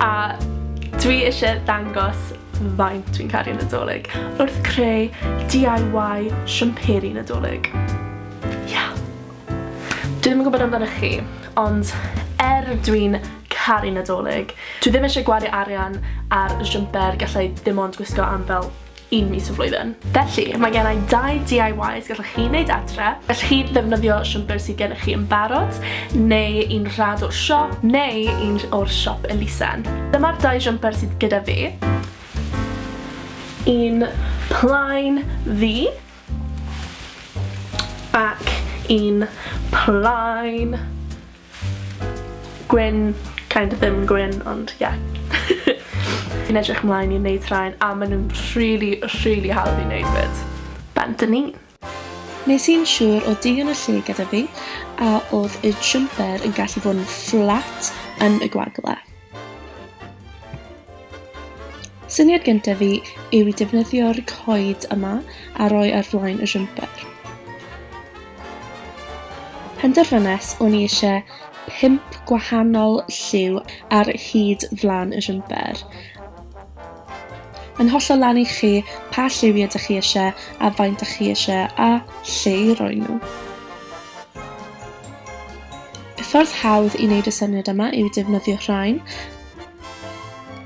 A dwi isie dangos faint dwi'n caru Nadolig wrth creu DIY siwmperi Nadolig. Ia! Dwi ddim yn gwybod amdanoch chi, ond er dwi'n caru Nadolig, dwi ddim eisiau gwario arian ar siwmper gallai dim ond gwisgo am fel un mis y flwyddyn. Felly, mae gen i dau DIYs gallwch chi wneud adre. Gallwch chi ddefnyddio siwmper sydd gennych chi yn barod, neu un rhad o'r siop, neu un o'r siop elusen. Dyma'r dau siwmper sydd gyda fi. Un plaen ddu, ac un plaen Gwyn, kind of ddim yn gwyn ond ie. Fi'n edrych mlaen i neud rhain a ma' nhw'n rhili rhili hawdd i neud 'fyd. Bant a ni. Nes i'n siwr o digon o lle gyda fi a odd y jumper yn gallu bod yn fflat yn y gwagle. Syniad gyntaf fi yw i defnyddio'r coed yma a roi ar flaen y jumper. Penderfynes o'n i eisiau pump gwahanol lliw ar hyd flan y jumper. Yn hollol lan i chi pa lliwiau ydych chi eisiau a faint ydych chi eisiau a lle i roi nhw. Y ffordd hawdd i wneud y syniad yma yw defnyddio rhain.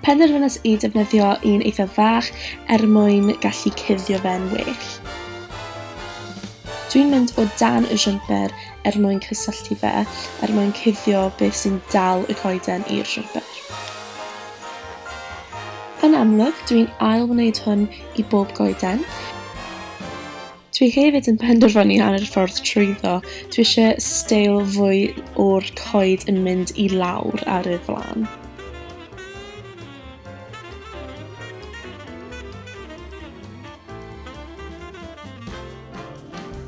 Penderfynas i defnyddio un eitha fach er mwyn gallu cuddio fe'n well. Dwi'n mynd o dan y jumper er mwyn cysylltu fe, er mwyn cuddio beth sy'n dal y coeden i'r jumper. Yn amlwg, dwi'n ail wneud hwn i bob goeden. Dwi hefyd yn penderfynu ar yr ffordd trwyddo. Dwi eisiau steil fwy o'r coed yn mynd i lawr ar y flan.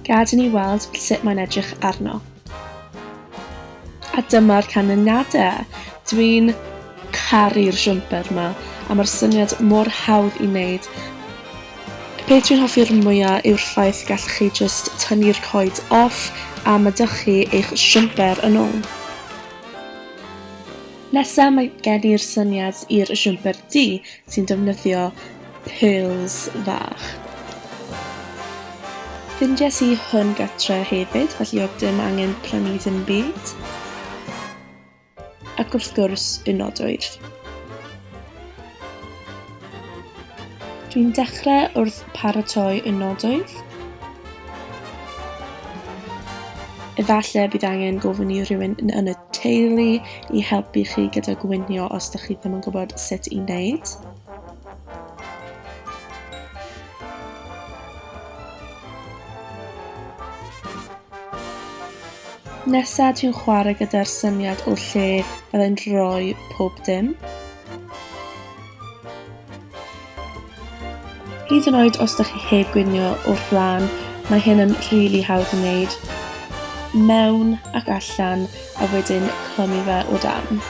Gad i ni weld sut mae'n edrych arno. A dyma'r canlyniadau! Dwi'n caru'r siwmper ma, a mae'r syniad mor hawdd i wneud. Y peth dwi'n hoffi'r mwya yw'r ffaith y gallwch chi jyst tynnu'r coed off a ma' dych chi eich siwmper yn ôl. Nesa mae gen i'r syniad i'r siwmper du, sy'n defnyddio pils fach. Ffindies i hwn gatre hefyd, felly oedd dim angen prynu dim byd. Ac wrth gwrs, unodwydd. Dwi'n dechrau wrth paratoi y nodoedd. Efallai bydd angen gofyn i rhywun yn y teulu i helpu chi gyda gwynio os ydych chi ddim yn gwybod sut i wneud. Nesa dwi'n chwarae gyda'r syniad o lle byddai'n rhoi pob dim. Hyd yn oed os da chi heb gwnio o'r flan, mae hyn yn rili really hawdd i wneud. Mewn ac allan a wedyn clymu fe o dan.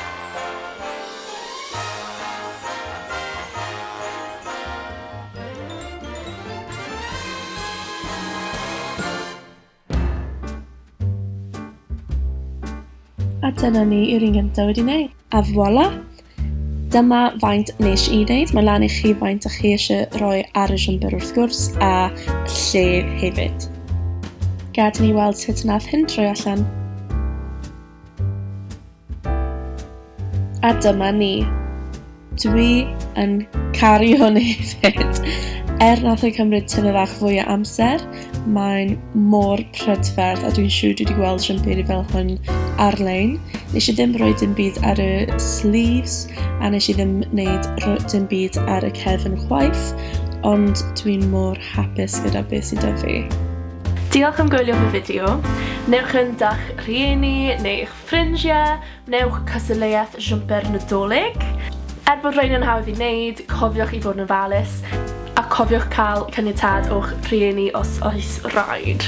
A dyna ni yw'r un gyntaf wedi wneud. A voilà! Dyma faint nes i wneud. Mae lan i chi faint ych chi eisiau rhoi ar y siwmper wrth gwrs a lle hefyd. Gad i ni weld sut nath hyn troi allan. A dyma ni. Dwi yn caru hwn hefyd. Er nath ei cymryd tymed fach fwy o amser, mae'n mor prydferth a dwi'n siŵr dwi wedi gweld rhymbyd i fel hwn ar-lein. Nes i ddim rhoi dim byd ar y sleeves a nes i ddim wneud dim byd ar y cefn chwaith, ond dwi'n mor hapus gyda beth sydd 'da fi. Diolch am gwylio fy fideo. Newch yn da'ch rhieni neu eich Ffrindiau, Gwnewch cystadleuaeth siwmper Nadolig! Er bod rhain yn hawdd i wneud, cofiwch i fod yn ofalus, a cofiwch cael caniatâd o'ch rhieni os oes raid.